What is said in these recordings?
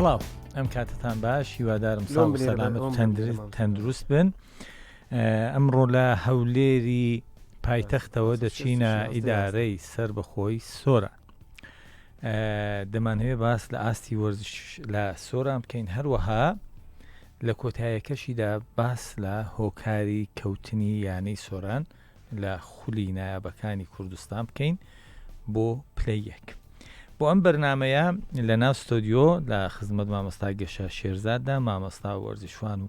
سڵاو ئەم کاتتان باش هیوادارم تەندروست بن ئەمڕۆ لە هەولێری پایتەختەوە دەچینە ئیدارەی سەر بەخۆی سۆرە دەمانەوێت باس لە ئاستی وەرزش لە سۆران بکەین هەروەها لە کۆتایەکەشیدا باس لە هۆکاری کەوتنی یانەی سۆران لە خولی نایابەکانی کوردستان بکەین بۆ پلی یەک بۆ ئەم بەرنمەیە لە ناو ستۆدیۆ لە خزمەت مامۆستا گەشە شێرزاددا مامۆستا وەرزشوان و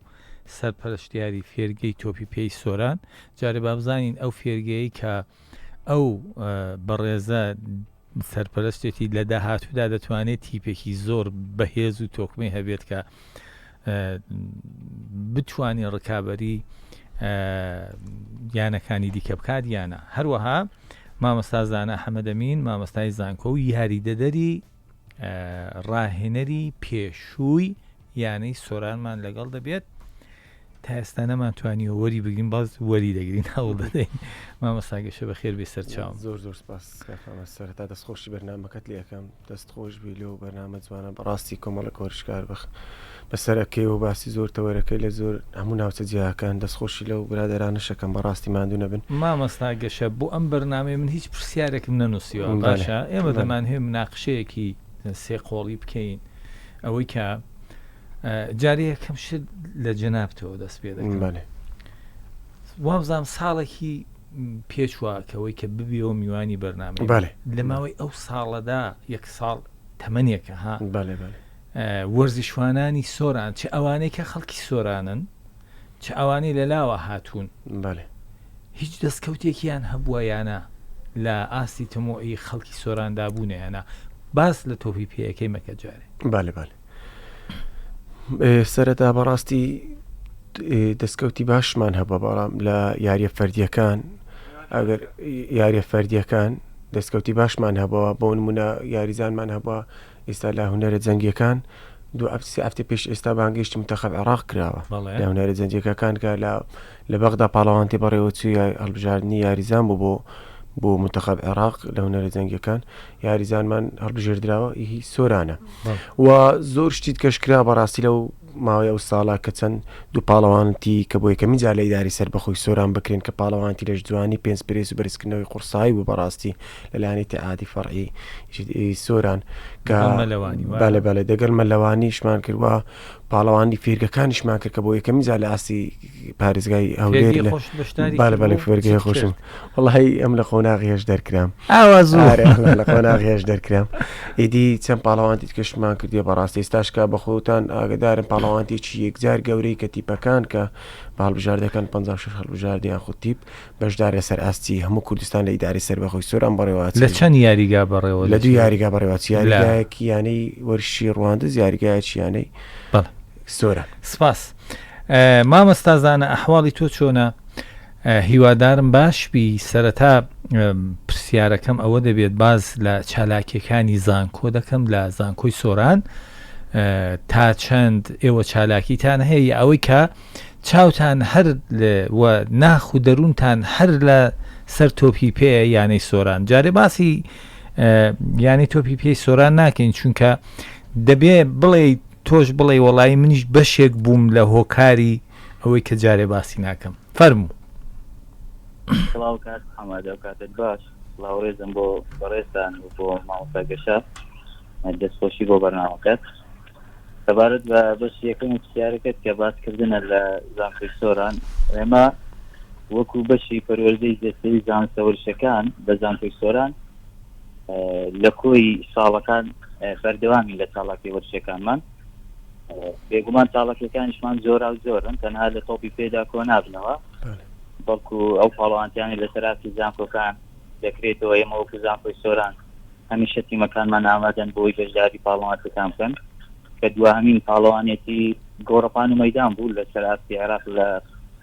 سەرپەرشتیاری فێرگەی تۆپی پێی سۆران جارێ بابزانین ئەو فێرگەیە کە ئەو بەڕێزە سەرپەرستێتی لە داهاتوودا دەتوانێت تیپێکی زۆر بەهێز و تۆکمەی هەبێت کە بتانی ڕکابی یانەکانی دیکە بکات یانە هەروەها مامەستازانە حەمەدەمین مامەستای زانکۆ و یاریدەدەری ڕاهێنەری پێشووی یانەی سۆرانمان لەگەڵ دەبێت تا ئێستا نەمان توانیوە وەری بگرین باز وەری دەگرین هەوڵ دەدەین مامەساگەشە بە خێر بێ سەرچاو زۆر زۆر سپاس سەرتا دەستخۆشی بەرنمەکەت لەکەم دەست خۆش بی لۆ بەرنامە جوانە بەڕاستی کۆمەڵک هۆرشکار بخ بەسەرەکەی و باسی زۆر تەوەرەکەی لە زۆر هەموو ناوچە جیاکان دەست خۆشی لەو برادەرانەش ئەکەم بەڕاستی ماندوو نەبن. مامۆستا گەشە بۆ ئەم بەرنامەیە من هیچ پرسیارێکم نەنوسیوە باشە ئێمە دەمانهەوێ مناقشەیەکی سێ قۆڵی بکەین ئەوەی کە جارێ یەکەم شت لە جەنابتەوە دەست پێ دەکەم وابزانم ساڵێکی پێچوە کەەوەی کە ببیەوە میوانی بەرنامە لە ماوەی ئەو ساڵەدا یەک ساڵ تەمەنێکە ها وەرزشوانانی سۆران چ ئەوانەی کە خەڵکی سۆرانن چ ئەوانەی لە لاوە هاتوون هیچ دەستکەوتێکیان هەبووە یا نا لە ئاستی تەمۆعی خەڵکی سۆراندا بوونە یا نا باس لە تۆپی پێیەکەی مەکە جارێ بالێ بالێ سەرەتا بەڕاستی دەستکەوتی باشمان هەبە بەڵام لە یاریە فەردیەکان ئەگەر یاریە فەردیەکان دەستکەوتی باشمان هەبەوە بۆ نمونە یاریزانمان هەبە ئێستا لە هونەرە جەنگیەکان دوو هەفت سێ هەفتەی پێش ئێستا بانگێشتی منتەخەب عێراق کراوە بەڵێ. لە هونەرە جەنگیەکەکان کە لە لە بەغدا پاڵەوانتی بەڕێوەچووی یا- هەڵبژاردنی یاریزان بوو بۆ بۆ منتەخەب عێراق لە هونەرە جەنگیەکان یاریزانمان هەڵبژێردراوە هی سۆرانە بەڵێ. و زۆر شتی دیکەش کرا بەڕاستی لەو ماوەی ئەو ساڵە کە چەند دوو پاڵەوانتی کە بۆ یەکەمین جار لە ئیدارەی سەربەخۆی سۆران بکرێن کە پاڵەوانتی لەش جوانی پێنج پرێس و بەرزکردنەوەی قوڕسایی بوو بەڕاستی لەلایەنی تەعادی فەڕعی سۆران کە بالە بالە دەگەل مەلەوانیشمان کردوە پاڵەوانی فێرگەکانیشمان کرد کە بۆ یەکەمین جار لە ئاستی پارێزگای هەولێر لە خۆش بەشداری بالە بالە فێرگەی خۆشم وڵی ئەم لە قۆناغیش دەرکرام ئاوا زۆر لە قۆناغیش دەرکرام ئیدی چەند پاڵەوانتی کەشمان کردی بەڕاستی ئێستاشکا بە خۆتان ئاگدارن پاڵەوانتێکی یەکجار گەورەی کە تیپەکان کە باڵبژاردەکان 56 هەڵبژاردیان خود تیپ بەشدار لەسەر ئاستی هەموو کوردستان لە ئیداری سەر بەخۆی سۆران بەڕێوە لە چەند یاریگا بەڕێوە لە دوو یاریگا بەڕێوە یاریگایەکی یانەی وەرشی ڕوانندە یاریگایەکی یانەی زۆرە سپاس مامەستا زانە ئەحواڵی تۆ چۆنە هیوادارم باش بی سەرەتا پرسیارەکەم ئەوە دەبێت باز لە چالاکیەکانی زانکۆ دەکەم لە زانکۆی سۆران تا چەند ئێوە چالاکیتان هەیە ئەوەی کە چاوتان هەر ناخ و دەروونتان هەر لە سەر تۆپی پێ یانەی سۆران جارێ باسی یانی تۆپی پێی سۆران ناکەین چونکە دەبێ بڵێ تۆش بڵێی وەڵایی منیش بەشێک بووم لە هۆکاری ئەوەی کە جارێ باسی ناکەم فەرموو. سڵاو کاک حەمەد ئەو کاتەت باش سڵاو ڕێزم بۆ بەڕێزتان و بۆ مامۆستا گەشە دەستخۆشی بۆ بەرنامەکەت سەبارەت بە بەش یەکەم و پرسیارەکەت کە باسکردنە لە زانکۆی سۆران ئێمە وەکو بەشی پەروەردەی جەستەی زانستە ورشەکان لە زانکۆی سۆران لە کۆی ساڵەکان بەردەوامین لە چاڵاکی وەرشەکانمان بێگومان چاڵەکەکانیشمان زۆرا و زۆرن تەنها لە تۆپی پێدا کۆ نابنەوە بەڵکو ئەو پاڵوانتیانی لە سەراسی زانکۆکان دەکرێتەوە ئێمە وەکو زانکۆی سۆران هەمیشە تیمەکانمان ئامادەن بۆی بەشداری پاڵوانتەکان بکەن کە دواهمین پاڵەوانێتی گۆڕپان و مەدان بوو لە سەراسی عێراق لە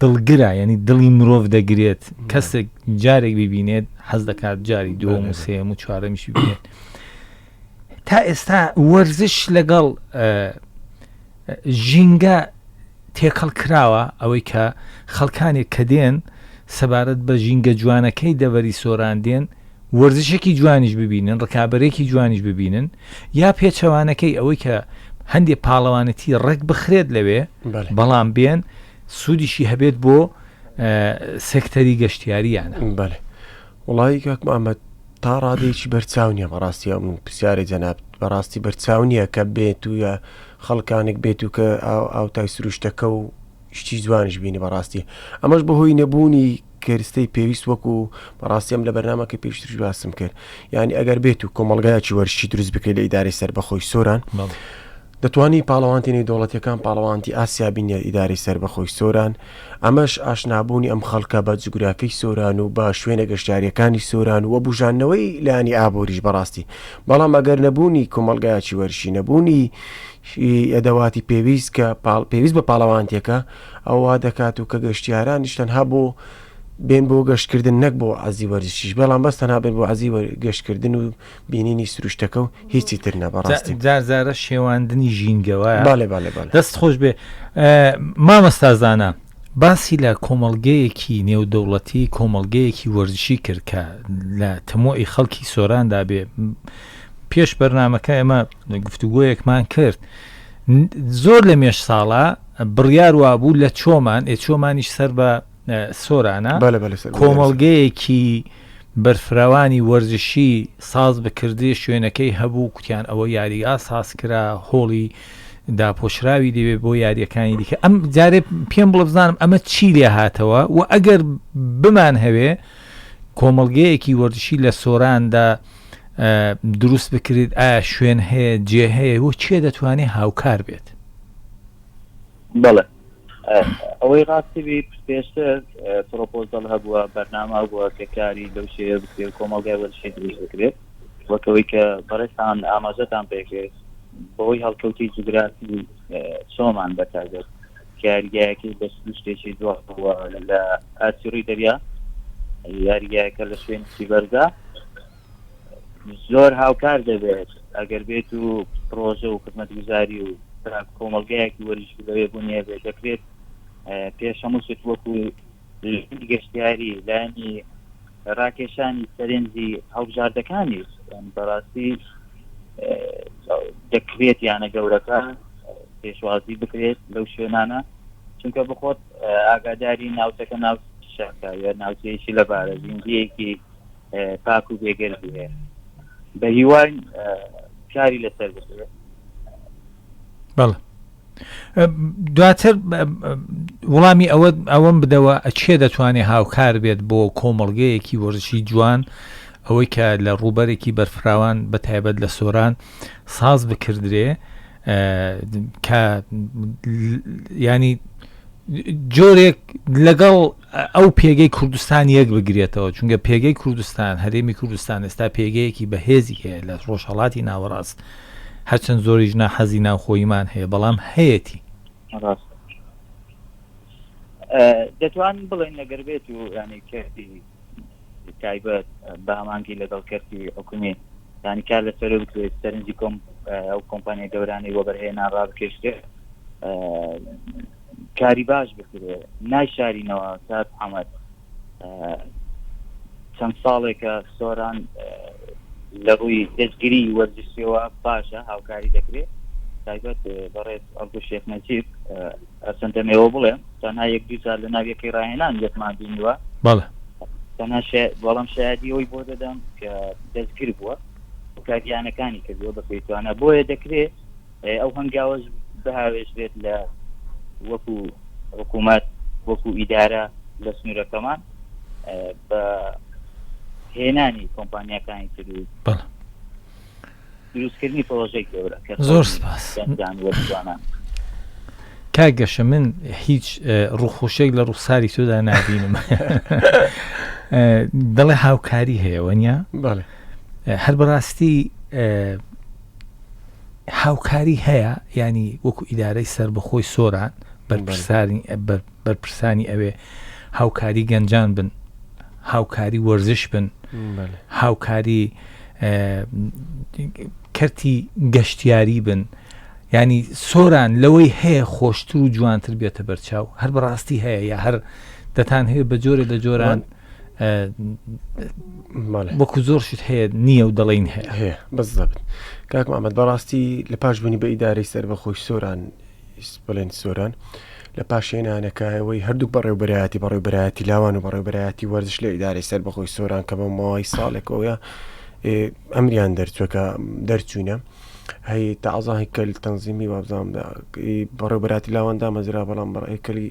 دڵگرە یعنی دڵی مرۆڤ دەگرێت کەسێک جارێک ببینێت حەز دەکات جاری دووەم و سێم و چوارەمیش ببینێت تا ئێستا وەرزش لەگەڵ ژینگە تێکەڵ کراوە ئەوەی کە خەڵکانێک کە دێن سەبارەت بە ژینگە جوانەکەی دەبەری سۆران دێن وەرزشێکی جوانیش ببینن ڕکابەرێکی جوانیش ببینن یا پێچەوانەکەی ئەوەی کە هەندێک پاڵەوانەتی ڕێک بخرێت لەوێ بەڵام بێن سوودیشی هەبێت بۆ سێکتەری گەشتیاریانە بەێ وڵی کاک محمد تا ڕادێکی بەرچاو نیە بەڕاستی ئەم پرسیارە جەناب بەڕاستی بەرچاو نییە کە بێت و یا خەڵکانێک بێت و کە ئاوتای سروشتەکە و شتی جوانش بینی بەڕاستی ئەمەش بەهۆی نەبوونی کەرستەی پێویست وەکو بەڕاستی ئەم لە بەرنامەکەی پێشترش باسم کرد یانی ئەگەر بێت و کۆمەلگایکی وەرشی دروست بکرێت لە ئیدارەی سەر بەخۆی سۆران دەتوانانی پاڵەوانتی نەی دەوڵەتەکان پاڵەوانتی ئاسیا بینێت ئیداری سەر بەخۆی سۆران ئەمەش ئاشنابوونی ئەم خەڵکە بە جوگرافی سۆران و بە شوێنە گەشتارەکانی سۆران و بژانەوەی لانی ئابووریش بەڕاستی بەڵام ئەگەر نەبوونی کۆمەلگایکی وەرشی نەبوونی ئەدەواتی پێویست کە پاڵ پێویست بە پاڵەوانتیەکە ئەوە وا دەکات و کە گەشتیارانیش تەنها بۆ بێن بۆ گەشتکردن نەک بۆ عەزی وەرزشیش بەڵام بەس تەنها بێن بۆ عەزی گەشتکردن و بینینی سروشتەکە و هیچی تر نە بەڕاستی جارجارە شێواندنی ژینگەوە بالێ بالێ بالێ دەست خۆش بێ مامەستازانە باسی لە کۆمەڵگەیەکی نێودەوڵەتی کۆمەڵگەیەکی وەرزشی کرد کە لە تەمۆی خەڵکی سۆراندا بێ پێش بەرنمەکە ئەمە گفتوگۆیەکمان کرد زۆر لە مێش ساڵە بڕیار وابوو لە چۆمان ئێ چۆمانیش سەر بە سۆرانە کۆمەڵگەیەکی بەرفراوانی وەرزشی ساز بکردێ شوێنەکەی هەبوو کوتیان ئەوە یاریگا ساز کرا هۆڵی داپۆشراوی دەوێ بۆ یاریەکانی دیکە ئەم جارێ پێم بڵ بزانم ئەمە چی لێ هاتەوە و ئەگەر بمان هەوێ کۆمەڵگەیەکی وەرزشی لە سۆراندا دروست بکرێت ئایا شوێن هەیە جێ هەیە و چێ دەتوانێت هاوکار بێت بەڵێ ئەوەی ڕاستی بی پێشتر پرۆپۆزل هەبووە بەرنامە بووە کە کاری لەو شێوە بکرێت کۆمەڵگای وەرشی دروست بکرێت وەکەوەی کە بەڕێستان ئاماژەتان پێکرێت بەوەی هەڵکەوتی جوگرافی چۆمان بەتاگەت یاریگایەکەی بە سروشتێکی جوان بووە لە ئاستی ڕووی دەریا یاریگایەکە لە شوێنی بەردا زۆر هاوکار دەبێت ئەگەر بێت و پرۆژە و خزمەتگوزاری و کۆمەلگایەکی وەریش لەوێ بوونیە بێت دەکرێت پێش هەموو شت وەکو لایەنی گەشتیاری، لایەنی راکێشانی سەرنجی هەڵبژاردەکانیش بەڕاستی دەکرێت یانە گەورەکە پێشوازی بکرێت لەو شوێنانە چونکە بخۆت ئاگاداری ناوچەکە ناو شەکە یا ناوچەیەکی لەبارە زیندگیەکی پاک و بێگەر هەیە بە هیوای کاری لەسەر بکرێت بەڵێ دواتر وڵامی ئەوە ئەوەم بدەوە ئەچێ دەتوانێت هاوکار بێت بۆ کۆمەڵگەیەکی وەرزشی جوان ئەوەی کە لە ڕووبەرێکی بەرفراوان بە تایبەت لە سۆران ساز بکردرێ کە ینی جۆرێک لەگەڵ ئەو پێگەی کوردستان یەک بگرێتەوە، چونکە پێگەی کوردستان، هەرێمی کوردستان ئێستا پێگەیەکی بەهێزی هەیە لە ڕۆژهەڵاتی ناوەڕاست، هەرچەند زۆریش ناحەزی ناوخۆییمان هەیە، بەڵام هەیەتی. ڕاستە. دەتوانین بڵێین ئەگەر بێت و یانەی کەرتی تایبەت بە هەمانگی لەگەڵ کەرتی حکومی یانی کار لەسەر بکرێت سەرنجی کۆم ئەو کۆمپانیای گەورانی وەبەرهێنا ڕابکێشرێت کاری باش بکرێ نایشارینەوە کات ئەمەد چەند ساڵێکە سۆران لە ڕووی دەستگیری وەرزشیەوە باشە هاوکاری دەکرێت تایبەت بەڕێز ئەڵگو شێخ نەجیب ئەسەندەمەوە بڵێم تەنها یەک دوجار لە ناویەکەی ڕاهێنان یەکمان بینیوە بەڵێ تەنها بەڵام شایدی ئەوی بۆ دەدەم کە دەستگیر بووە کاریانەکانی کردووە بە پێیتوانە بۆیە دەکرێت ئەو هەنگاوەش بهاوێژرێت لە وەکو حکوومەت وەکو ئیدارە لە سنوورەکەمان بە هێنانی کۆمپانیەکانی تر و دروستکردنی پرۆژێک گەورە کە زۆر سپاس وەزانان کا گەشە من هیچ ڕوخۆشێک لە ڕوخساری تۆدا نبینم دەڵێ هاوکاری هەیە وەنیا هەر بەڕاستی هاوکاری هەیە ینی وەکو ئیدارەی سربەخۆی سۆران بەرپرسانی ئەوێ هاوکاری گەنجان بن هاوکاری وەرزش بن هاوکاری کەرتی گەشتیاری بن ینی سۆران لەوەی هەیە خۆشتر و جوانتر بێتە بەرچاو هەر بەڕاستی هەیە یا هەر دەتان هەیە بە جۆرە لە جۆران وەکو زۆر شت هەیە نییە و دەڵین هەیە بەس دەبن کاک ئەمەد بەڕاستی لە پاش بوونی بە ئیدارەی سەر بە خۆش سۆران بڵێن سۆران لە پاشێنانەکایەوەی هەردوو بەڕێوبەرایەتی بەڕێوبەرایەتی لاوان و بەڕێوبەرایەتی وەرزش لە ئیدارەی سەر بەخۆی سۆران کە بە ماوەی ساڵێکەوەە ئەمریان دەرچوەکە دەرچوینە هەی تازاهی کەل تەنزیمی وابزانامدا بەڕێوبەراتی لاواندا مەزرا بەڵام بەڕێکەلی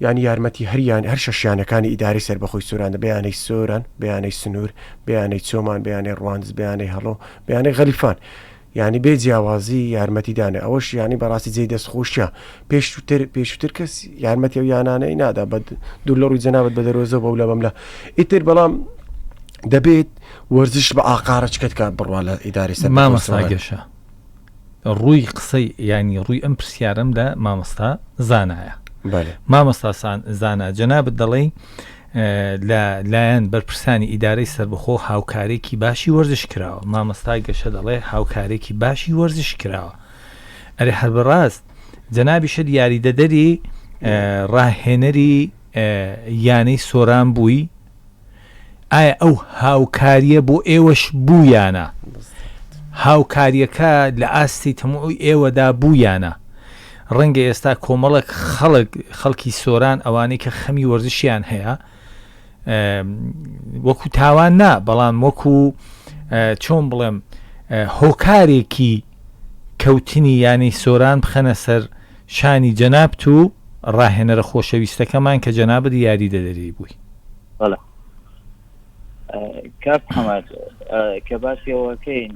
یانی یارمەتی هەر یان هەر شەش یانەکانی ئیدارەی سەربەخۆی سۆران دە بە یانەی سۆران، بە یانەی سنوور، بە یانەی چۆمان، بە یانەی ڕواندز، بە یانەی هەڵۆ، بە یانەی غەلیفان یانی بێ جیاوازی یارمەتی دانێ ئەوەش یانی بەڕاستی جێی دەست خۆشیە پێشووتر پێشووتر کەس یارمەتی ئەو یانانەی نادا بە دوور لە ڕووی جەنابەت بە دەرۆزە بەو لە بەملا ئیتر بەڵام دەبێت وەرزش بە ئاقارەچکەت کا بڕوا لە ئیداری سەر مامەساگەشە ڕووی قسەی ینی ڕووی ئەم پرسیارم لە مامۆستا زانایە مامۆستا زانا جەنابەت دەڵێ لە لایەن بەرپرسانی ئیدارەی سربەخۆ هاوکارێکی باشی وەرزش کراوە مامۆستای گەشە دەڵێ هاوکارێکی باشی وەرزش کراوە ئەرێ هەر بەڕاست جەنابی شت یاریدەدەری ڕاهێنەری یانەی سۆران بووی ئایا ئەو هاوکاریە بۆ ئێوەش بوو یانە؟ هاوکاریەکە لە ئاستی تەموعی ئێوەدا بوو یانە؟ ڕەنگە ئێستا کۆمەڵێک خەڵک خەڵکی سۆران ئەوانەی کە خەمی وەرزشیان هەیە وەکو تاوان نا بەڵام وەکو چۆن بڵێم هۆکارێکی کەوتنی یانی سۆران بخەنە سەر شانی جەنابت و ڕاهێنەرە خۆشەویستەکەمان کە جەنابت یاریدەدەری بووی. بەڵێ کاک محمد کە باسی ئەوەکەین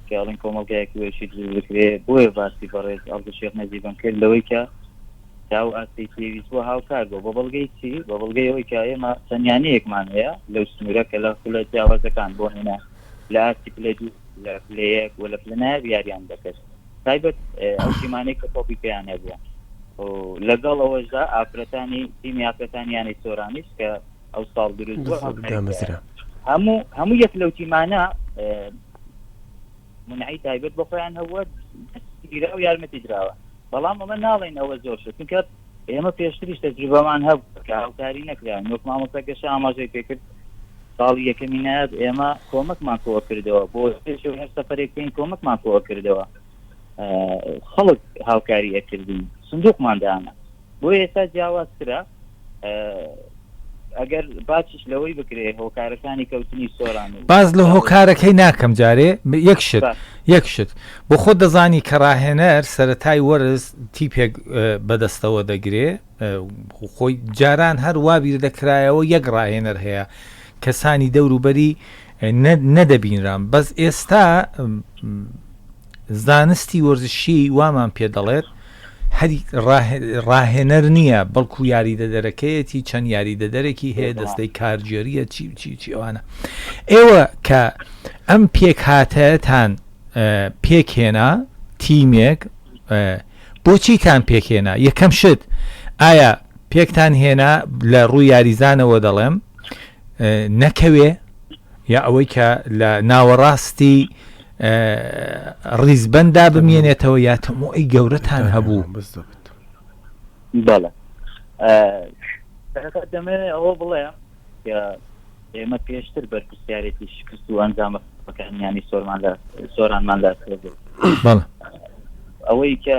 کەڵین کۆمەڵگایەکی وێشی دروست بکرێ بۆیە باسی بەڕێز ئەڵدە شێخ نەزیبم کرد لەوەی کە تاو ئاستی پێویست بۆ هاوکار بۆ بە بەڵگەی چی بە بەڵگەی ئەوەی کە ئێمە تەنیانەیەکمان هەیە لەو سنوورە کە لە خولە جیاوازەکان بۆ هێنا لە ئاستی پلە دوو لە پلەیەک و لە پلەنایە یاریان دەکرد تایبەت ئەو تیمانەی کە تۆپی پێیان نەبووە لەگەڵ ئەوەشدا ئافرەتانی تیمی ئافرەتانیانی سۆرانیش کە ئەو ساڵ دروست هەموو هەموو یەک لەو تیمانە منعی تایبەت بۆ خۆیان هەوە گیرا و یارمەتی دراوە بەڵام ئەمە ناڵێن ئەوە زۆر شتکە ئێمە پێشتریش تەجروبەمان هەبوو کە هاوکاری نەکراین وەک مامۆستا گەشە ئاماژەی پێکرد ساڵی یەکەمی نایاب ئێمە کۆمەکمان کۆوە کردەوە بۆ پێش هەر سەفرێک بکەین کۆمەکمان کۆوە کردەوە خەڵک هاوکاری ئەکردین سندوقمان دانا بۆ ئێستا جیاوازترە ئەگەر باسیش لەوەی بکرێ هۆکارەکانی کەوتنی سۆران و باس لە هۆکارەکەی ناکەم جارێ یەک شت با یەک شت بۆ خۆت دەزانی کە ڕاهێنەر سەرەتای وەرز تیپێک ە، بەدەستەوە دەگرێ ە، و خۆی جاران هەر وا بیر دەکرایەوە یەک ڕاهێنەر هەیە کەسانی دەور و بەری ە نە نەدەبینران بەس ئێستا ە زانستی وەرزشی وامان پێ دەڵێت هەر راهێنەر نییە بەڵکو یاریدەدەرەکەیەتی چەند یاریدەدەرێکی هەیە دەستەی کارگێریە چی چی چی ئەوانە ئێوە کە ئەم پێک هاتەتان پێکهێنا تیمێک بۆچیتان پێکهێنا یەکەم شت ئایا پێکتان هێنا لە ڕووی یاریزانەوە دەڵێم نەکەوێ یا ئەوەی کە لە ناوەڕاستی ڕیزبەندا بمێنێتەوە یا تەمۆی گەورەتان هەبوو بەڵێ دەمێ ئەوە بڵێ ئێمە پێشتر بەرپسیارێتی شکست و ئەنجامەکانیانی سۆرمان لە سۆرانمان لە ئەوەی کە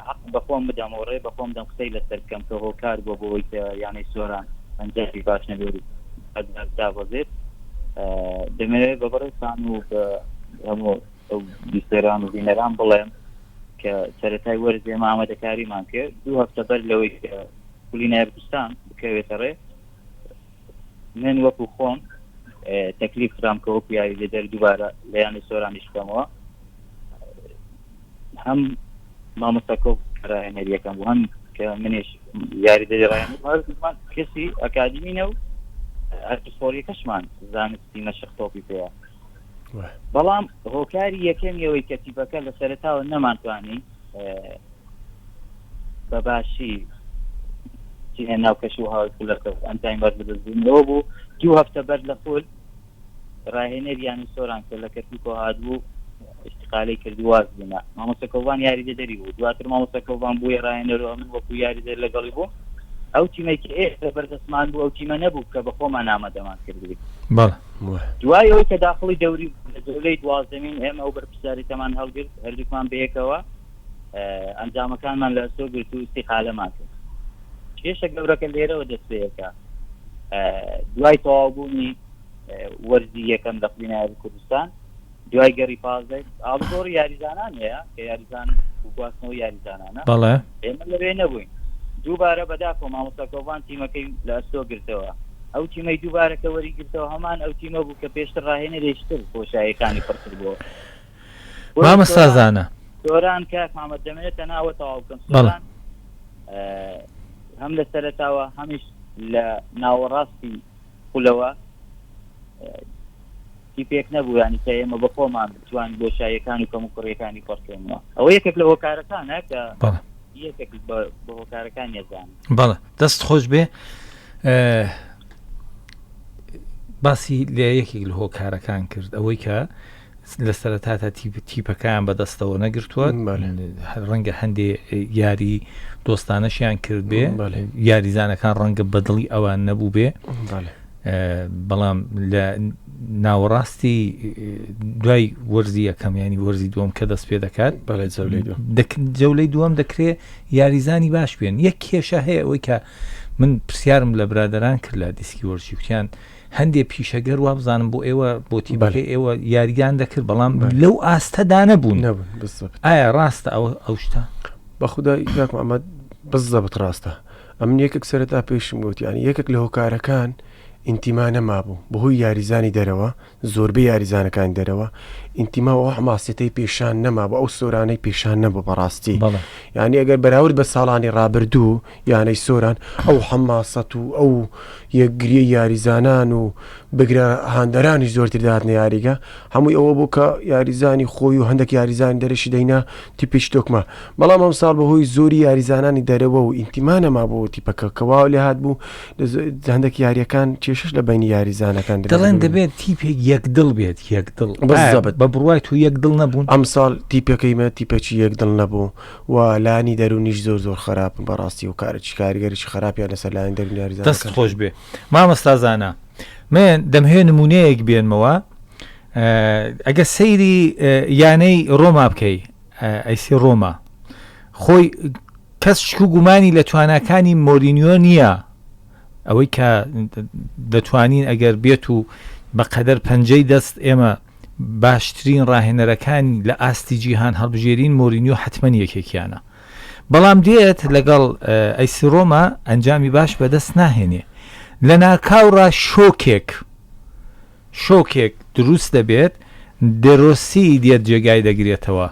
حەق بەخۆم بدەم و ڕێ بەخۆم دەم قسەی لەسەر بکەم کە هۆکار بۆ بۆی کە یانەی سۆران ئەنجامی باش نەبێت دابەزێت دەمەوێت بە بەڕێسان و بە هەموو بیسەران و بینەران بڵێم کە سەتای وەرزێ مامەدەکاریمان کرد دوو هەفتە بەر لەوەی کە کولی نایبستان بکەوێتە ڕێ من وەکو خۆم تەکلیف خرام کە وەکو یاریدە دەر دووبارە لەیانی سۆرانیش بکەمەوە هەم مامۆستا کۆ ڕاهێنەریەکەم هەم کە منێش یاری دەری ڕاهێنمان کەسی ئەکادیمینە و ئەرپسپۆریەکەشمان زانستی مەشق تۆپی پێەیە بەڵام هۆکاری یەکەمیەوەی کەتیبەکە لە سەرتاوە نەمانتوانی بە باشی ناو کەش و هاوکلەکە ئەنجاین بەر بدەستبوونەوە بوو دوو هەفتە بەر لە خۆل راهێنەر یانەی سۆران کە لە کەرکوکەوە هاتبوو ئیستیقالەی کرد واز بوونا مامۆستا کەوبان یاریدەدەری بوو دواتر مامۆستا کەوبان بووە راهێنەر و ئەمن وەکو یاریدەر لەگەڵی بوو ئەو تیمەی کە ئێستا بەردەستمان بوو ئەو تیمە نەبوو کە بە خۆمان ئامادەمان کردبووی دوای ئەوەی کە داخڵی دەوری جولەی دوازدەمین ئێمە ئەو بەرپرسیارێتەمان هەڵگرت هەردووکمان بەیەکەوە ئەنجامەکانمان لە ئەستۆ گرت و ئیستیقالەمان کرد کێشە گەورەکە لێرەوە دەست پێیەکە دوای تەواوبوونی وەرزی یەکەم لە قوی نایب کوردستان دوای گەڕی پازدە ئاڵگۆڕ یاریزانان هەیە کە یاریزان گواستنەوە یاریزانانە بەڵێ ئێمە لەوێ نەبووین دووبارە بەداخۆ مامۆساکۆڤان تیمەکەی لە ئەستۆ گرتەوە ئەو تیمەی دووبارەکە وەری گرتەوە هەمان ئەو تیمە بوو کە پێشتر ڕاهێنە لێشتر بۆشایەکانی پڕکردەوە مامۆستا زانا. سۆران کاک محمد دەمەوێت تەنها ئەوە تەواو بکەم سۆران هەم لە سەرەتاوە هەمیش لە ناوەڕاستی خولەوە کی پێک نەبوو ینی کە ئێمە بە خۆمان بتوان بۆ شایەکان و کەم و کوڕیەکانی پڕکەینەوە ئەوە یەکێک لە هۆکارەکانە کە یەکێک بە هۆکارەکان یەزان بەڵە دەست خۆش بێ باسی لە یەکێک لە هۆکارەکان کرد ئەوەی کە لە سەرەتا تا تیپەکەیان بەدەستەوە نەگرتووە ڕەنگە هەندێ یاری دۆستانەشیان کرد بێ یاریزانەکان ڕەنگە بەدڵی ئەوان نەبوو بێ بەڵام لە ناوەڕاستی دوای وەرزی یەکەم ینی وەرزی دووەم کە دەست پێ دەکات جەولەی دووەم دەکرێ یاریزانی باش بێن یەک کێشە هەیە ئەوەی کە من پرسیارم لە برادران کرد لە دیسکی وەرشی کوتیان هەندێ پیشەگەر وابزانم بۆ ئێوە بۆ تیبەکەی ئێوە یاریان دەکرد بەڵام لەو ئاستەدا نەبوون ئایا ڕاستە ئەوە ئەو شتە بەخدا یاکم ئەمە بەس زەبت ڕاستە ئەم یەکێک سەرتا پێشم گوتیانی یەکێک لە هۆکارەکان ئینتیما نەما بوو بەهۆی یاریزانی دەرەوە زۆربەی یاریزانەکان دەرەوە ئینتیما و حماسیەتەی پێشان نەما بە ئەو سۆرانەی پێشان نەبوو بەڕاستی یعنی ئەگەر بەراورد بە ساڵانی ڕابردوو یانەی سۆران ئەو حەماسەت و ئەو یەکگریەی یاریزانان و بگرە هاندەرانیش زۆرتر داهاتنە یاریگە هەمووی ئەوە بوو کە یاریزانی خۆی و هەندێک یاریزانی دەرەشی دەینا تیپیش تۆکمە بەڵام ئەم ساڵ بەهۆی زۆری یاریزانانی دەرەوە و ئینتیمانەما بۆ تیپەکە کەوا لێ هاات بوو هەندێک یاریەکان کێشش لە بینی یاریزانەکان دەڵێن دەبێت تیپێک یەک دڵ بێت یەک دڵ بە بڕای تو یەک دڵ نەبوون ئەم ساڵ تیپەکەیمە تیپەکی یەک دڵ نەبوو و لانی دەرونیش زۆر زۆر خەراپن بەڕاستی و کارچی کارگەریی خراپیان لەسەر لایەن دەرون یاریزان دەست خۆش بێ مامەستازانە من دەمهێ نمونەیەک بێنمەوە ئەگە سەیری یانەی ڕۆما بکەی ئەیسی ڕۆما خۆی کەس شکو گومانی لە تواناکانی مۆرینیۆ نییە ئەوەی کە دەتوانین ئەگەر بێت و بەقەدەر پەنجەی دەست ئێمە باشترین ڕاهێنەرەکانی لە ئاستی جیهان هەڵبژێرین مۆرینیۆ حەتمەن یەکێکیانە بەڵام دێت لەگەڵ ئەیسی ڕۆما ئەنجامی باش بەدەست ناهێنێ لە ناکاوڕا شۆکێک شۆکێک دروست دەبێت دێرۆسی دێت جێگای دەگرێتەوە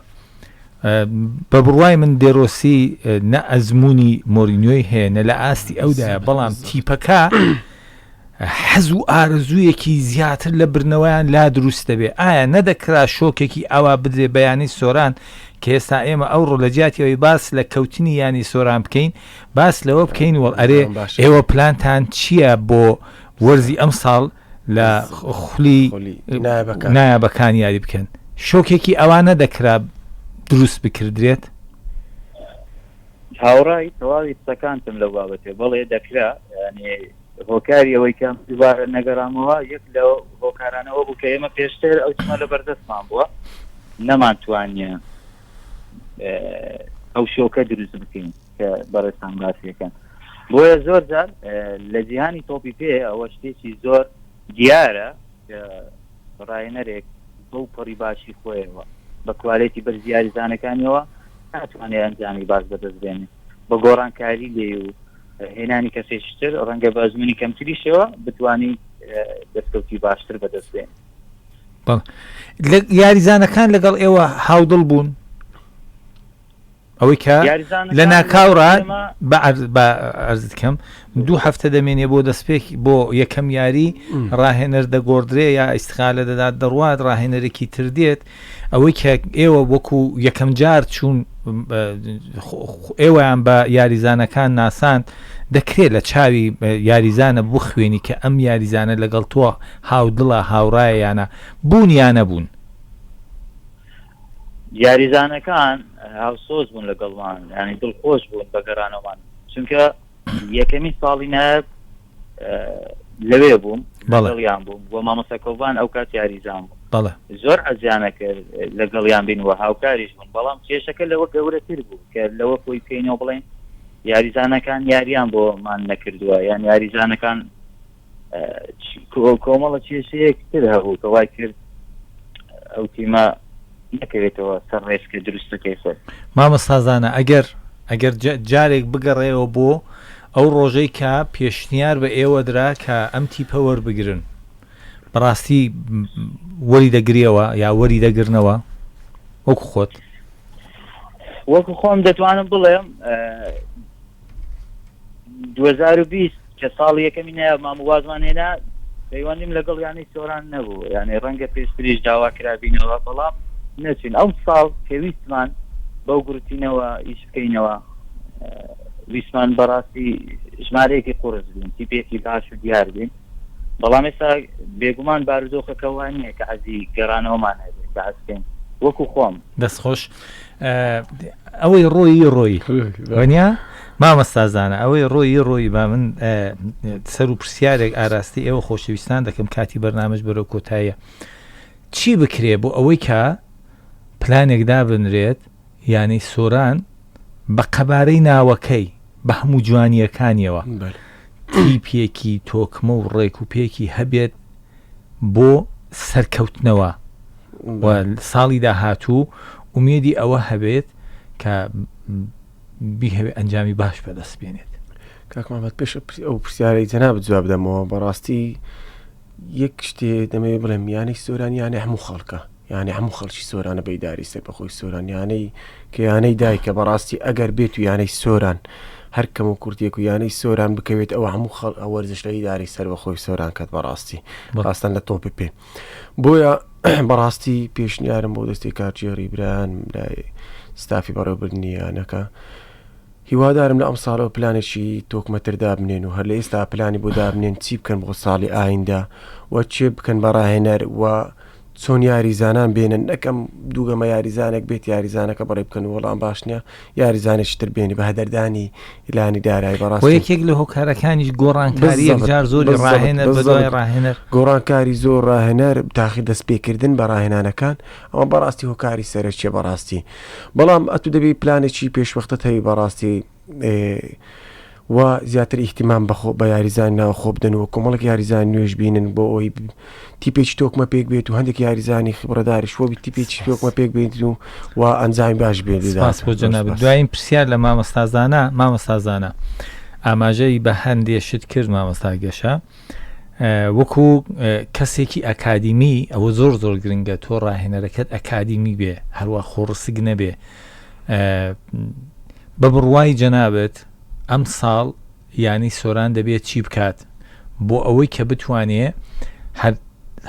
بە بڕوای من دێرۆسی نە ئەزمموی مۆرینۆی هەیە نە لە ئاستی ئەودایە بەڵام تیپەکە حەز و ئارەزوویەکی زیاتر لە بردنەوەیان لا دروست دەبێت، ئایا نەدەکرا شۆکێکی ئاوا بدرێت بە یانەی سۆران کە ئێستا ئێمە ئەوڕۆ لە جیاتی ئەوەی باس لە کەوتنی یانەی سۆران بکەین باس لەوە بکەین وەڵ ئەرێ ئێوە پلانتان چییە بۆ وەرزی ئەمساڵ لە خولی نایابەکان یاری بکەن، شۆکێکی ئاوا نەدەکرا دروست بکردرێت؟ هاوڕای تەواوی قسەکانتم لەو بابەتێ بەڵێ دەکرا یعنی هۆکاری ئەوەی کە دووبارە نەگەڕامەوە یەک لە هۆکارانەوە بوو کە ئێمە پێشتر ئەو چمە لە بەردەستمان بووە نەمانتوانە ئەو شۆکە دروست بکەین کە بەڕێستان باسیەکەن بۆیە زۆر جار لە جیهانی تۆپی پێ ئەوە شتێکی زۆر دیارە کە ڕاینەرێک بەو پەڕی باشی خۆیەوە بە کوالێتی بەرز یاریزانەکانیەوە ناتوانێت ئەنجامی باش بەدەست بێنێت بە گۆڕانکاری لێ و هێنانی کەسێکتر ڕەنگە بە ئەزمونی کەمتریشەوە بتانی دەستکەوتی باشتر بەدەست بێن یاریزانەکان لەگەڵ ئێوە هاودڵ بوون ئەوەی کە لە ناکاوڕا بە ئەرزت کەم دوو هەفتە دەمێنێ بۆ دەستپێک بۆ یەکەم یاری ڕاهێنەر دەگۆدرێ یا ئیسخالە دەدات دەڕوات ڕاهێنەرێکی تر دێت ئەوەی کە ئێوە وەکو یەکەم جار چوون ئێوەیان بە یاریزانەکان ناسان دەکرێت لە چاوی یاریزانە بخوێنی کە ئەم یاریزانە لەگەڵ تۆ هاودڵە هاوڕایەیانە بوون یانە بوون یاریزانەکان هاوسۆز بوون لەگەڵمان ینی دڵخۆش بوون بە گەڕانەوەمان چونکە یەکەمین ساڵی نایب لەوێ بووم بەڵیان بووم بۆ مامەسەکۆبان ئەو کات یاریزان بوو بەڵە زۆر ئەزیانە کرد لەگەڵیان بین و هاوکاریش بوون بەڵام کێشەکە لەوە گەورەتر بوو کە لەوە خۆی پێینەوە بڵێن یاریزانەکان یاریان بۆمان نەکردووە یان یاریزانەکان کۆمەڵە کێشەیەک تر هەبوو کە وای کرد ئەو تیمە نەکەوێتەوە سەر ڕێسکە دروستەکەی خۆی مامەستازانە ئەگەر ئەگەر جارێک بگەڕێەوە بۆ ئەو ڕۆژەی کە پێشنیار بە ئێوە درا کە ئەم تیپە وەربگرن بەڕاستی وەری دەگریەوە یا وەری دەگرنەوە وەکو خۆت وەکو خۆم دەتوانم بڵێم 2020 کە ساڵ یەکەمی نایە مام وازمان هێنا پەیوەندیم لەگەڵ یانەی سۆران نەبوو یانەی ڕەنگە پێشتریش داوا کرابینەوە بەڵام نەچین ئەو ساڵ پێویستمان بەو گروتینەوە ئیش بکەینەوە ویسمان بەڕاستی ژمارەیەکی قرس بوون تیپێکی باش و دیار بین بەڵام ئێستا بێگومان بارودۆخەکەوان نیە کە عزی گەڕانەوەمان هەبێت بەعسکەین وەکو خۆم دەستخۆش ئەوەی ڕۆیی ڕۆی وەنیا مامەستازانە ئەوەی ڕۆیی ڕۆی با من سەر و پرسیارێک ئاراستی ئێوە خۆشەویستان دەکەم کاتی بەرنامەش بەرەو کۆتایە چی بکرێ بۆ ئەوەی کە پلانێک دابنرێت یانەی سۆران بە قەبارەی ناوەکەی بە هەموو جوانیەکانیەوە تیپێکی تۆکمە و ڕێک و پێکی هەبێت بۆ سەرکەوتنەوە و ساڵی داهاتوو ئومێدی ئەوە هەبێت کە بیهەوێ ئەنجامی باش بەدەست بێنێت کاکمامەت پێش ئەو پرسیارەی جەناب جواب دەمەوە بەڕاستی یەک شتێ دەمەوێ بڵێم یانەی سۆرانیانە هەموو خەڵکە یانێ هەموو خەڵکی سۆرانە بەیداری سەربەخۆی سۆران یانەی کە یانەی دایکە بەڕاستی ئەگەر بێت و یانەی سۆران هەر کەم و کورتێک و یانەی سۆران بکەوێت ئەوە هەموو خەڵ ئەوەرزش لە ئیداری سەربەخۆی سۆران کەت بەڕاستی ڕاستن لە تۆپی پێ بۆیە بەڕاستی پێشنیارم بۆ دەستی کارچێڕی بران لای ستافی بەڕێوبردنی یانەکە هیوادارم لە ئەم ساڵەوە پلانێکی تۆکمەتر دابنێن و هەر لە ئێستا پلانی بۆ دابنێن چی بکەن بۆ ساڵی ئایندە و چێ بکەن بە ڕاهێنەر و چۆن یاریزانان بێنن نەکەم دووگەمە یاریزانێک بێت یاریزانەکە بەڕێ بکەن و وەڵام باش نییە یاریزانێکی تر بێنی بە هەدەردانی لانی دارای بەڕاست و یەکێک لە هۆکارەکانیش گۆڕانکاری بالضبط، یەکجار زۆری بالضبط، ڕاهێنەر بە بالضبط. دوای ڕاهێنەر گۆڕانکاری زۆر ڕاهێنەر تاخی دەست پێکردن بە ڕاهێنانەکان ئەوە بەڕاستی هۆکاری سەرەکیە بەڕاستی بەڵام ئەتو دەبی پلانێکی پێشوەختە هەبی بەڕاستی و زیاتر ئیهتیمام بە یاریزان ناوخۆ بدەن و کۆمەڵک یاریزان نوێش بینن بۆ ئەوی تیپێکی تۆکمە پێک بێت و هەندێک یاریزانی خبرەداریش وەبی تیپێکی تۆکمە پێک بێت و و ئەنجامی باش بێت باس بۆ جەناب دوایین پرسیار لە مامەستازانە مامەستازانە ئاماژەی بە هەندێ شت کرد مامەستا گەشە وەکو کەسێکی ئەکادیمی ئەوە زۆر زۆر گرنگە تۆ ڕاهێنەرەکەت ئەکادیمی بێ هەروە خۆڕسک نەبێ بە بڕوای جەنابت ئەم ساڵ یانی سۆران دەبێت چی بکات بۆ ئەوەی کە بتوانێ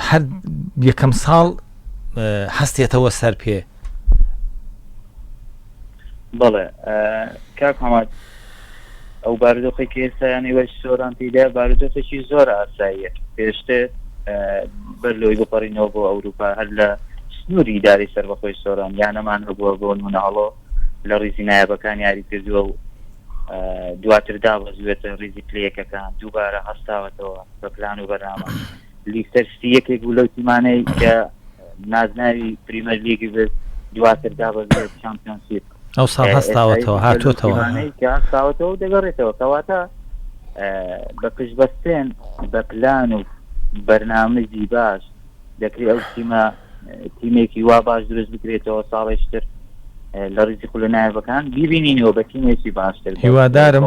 هەر یەکەم ساڵ هەستێتەوە سەر پێ بەڵێ کاک هەمات ئەو بارودۆخەی کە ئێستا یان ئێوەی سۆران تێیدایە بارودۆخێکی زۆر ئاساییە. پێشتر بەر لەوەی بپەڕینەوە بۆ ئەورووپا هەر لە سنووری ئیدارەی سەربەخۆی سۆران یانەمان هەبووە بۆ نموونە هەڵۆ لە ڕیزی نایابەکان یاری کردووە و دواتر دابەزیوێتە ڕیزی پلە یەکەکان دووبارە هەستاوەتەوە بە پلان و بەرنامە لیستەر ستی یەکێک بوو لەو تیمانەی کە نازناوی پریمەر لیگی بێت دواتر دابەزیوێت چامپیۆنشیپ ئەو ساڵ هەستاوەتەوە هاتووەتەوە کە هەستاوەتەوە دەگەڕێتەوە کەواتە بە پشت بەستێن بە پلان و بەرنامەجی باش دەکری ئەو تیمە تیمێکی وا باش درست بکرێتەوە ساڵێشتر لە ڕیزی خولە نایبەکان بیبینینەوە بە تیمێکی باشتر هیوادارم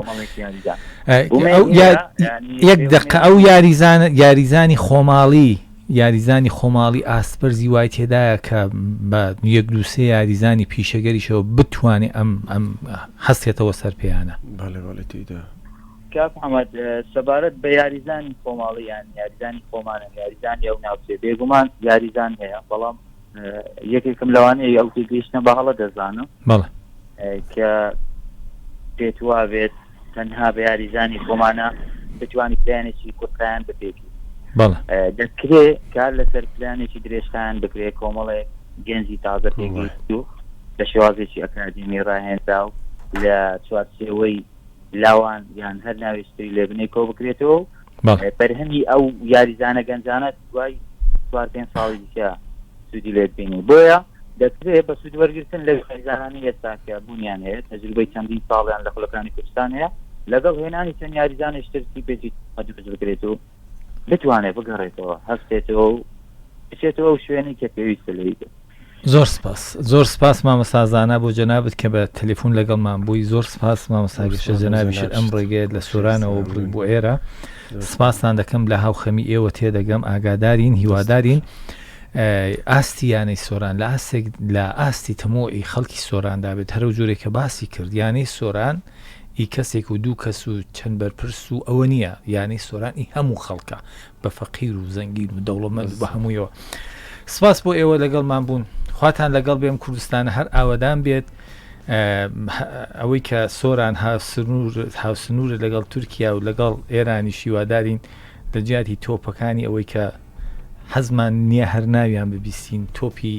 یەک دقە ئەو یاریزان یاریزانی خۆماڵی یاریزانی خۆماڵی ئاستبەرزی وای تێدایە کە بە یەک دوو سێ یاریزانی پیشەگەریشەوە بتوانێ ئەم ئەم هەستێتەوە سەر پێیانە. بەڵێ بەڵێ تێیدا. کاک حەمەد سەبارەت بە یاریزانی خۆماڵی یان یاریزانی خۆمانە یاریزانی ئەو ناوچەیە بێگومان یاریزان هەیە بەڵام یەکێکم لەوانەیە ئەو تێگەیشتە بە هەڵە دەزانم بەڵێ کە پێت وا بێت تەنها بە یاریزانی خۆمانە بتوانانی پلانێکی کورتیان بپێکی دەکرێ کار لەسەر پلانێکی درێژخان بکرێ کۆمەڵێ گەنجی تازە پێگەیشت و بە شێوازێکی ئەکادیمی ڕاهێندا و لە چوارچێوەی لاوان یان هەر ناوێشتری لێبنەی کۆ بکرێتەوە بەرهەمی ئەو یاریزانە گەنجانە دوای چوار پێنج ساڵی دیکە سوودی لێ ببینی بۆیە دەکرێت بە سوود وەرگتن لە یاریزانانی ئێستاکە بوونیان هەیە تەجروبەی چەندین ساڵیان لە خولەکانی کوردستان هەیە لەگەڵ هێنانی چەند یاریزانانی شترتی پێچی دروست بکرێت و بتوانێت بگەڕێتەوە هەستێتەوە و بچێتەوە ئەو شوێنی کە پێویستە لێی بێت زۆر سپاس زۆر سپاس مامۆستا زانا بۆ جەنابت کە بە تەلەفون لەگەڵمان بووی زۆر سپاس مامۆستا گەشە جەنابیشت ئەم ڕێگەیەت لە سۆرانەوە بڕی بۆ ئێرە سپاستان دەکەم لە هاوخەمی ئێوە تێدەگەم ئاگادارین هیوادارین ئاستی یانەی سۆران لە ئاستێک لە ئاستی تەمۆی خەڵکی سۆراندا بێت هەرو جۆرێک کە باسی کرد یانەی سۆران ئی کەسێک و دوو کەس و چەند بەرپرس و ئەوە نییە یانەی سۆرانی هەموو خەڵکە بە فەقیر و زەنگین و دەوڵەمەند و بە هەموویەوە سپاس بۆ ئێوە لەگەڵمان بوون خواتان لەگەڵ بێم کوردستانە هەر ئاوەدان بێت ئەوەی کە سۆران هاوسنوورە لەگەڵ تورکیا و لەگەڵ ئێرانی شیوادارین لە جیاتی تۆپەکانی ئەوەی کە حەزمان نییە هەر ناویان ببیستین تۆپی